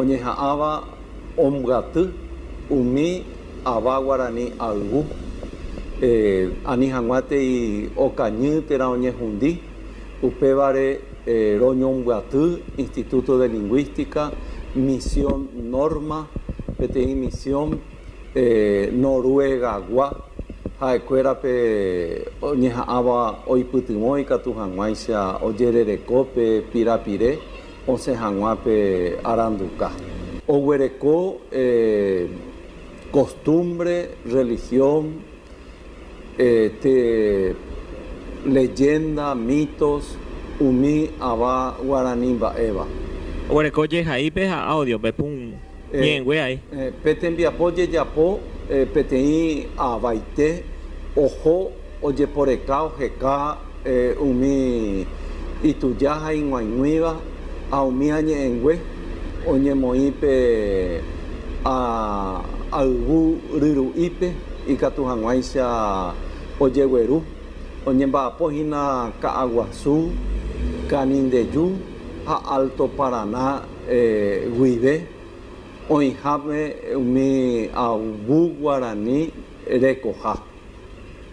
Oñeha'ãva ombyaty umi ava guarani ayvu, ani hag̃uántei okañy térã oñehundi, upévare roñombyaty Instituto de Lingüística, Misión Norma, peteĩ misión Noruegagua ha'ekuérape oñeha'ãva oipytyvõ ikatu hag̃uáicha ojerereko pe pirapire. Osẽ hag̃ua pe aranduka. Oguereko kostúmbre, rrelihión, levénda, mítos umi ava guarani mba'éva. Oguereko jehaípe ha áudiope. ñe'ẽngue ae. Pe tembiapo jejapo peteĩ avaite oho ojeporeka oheka umi ituja ha ig̃uaig̃uíva ha umi añe'ẽngue oñemoĩ pe ayvu ryru'ípe ikatu hag̃uáicha ojegueru, oñemba'apo hína Ka'aguasu, Canindeyu ha Alto Paraná. guive oĩhápe umi avu guarani rekoha.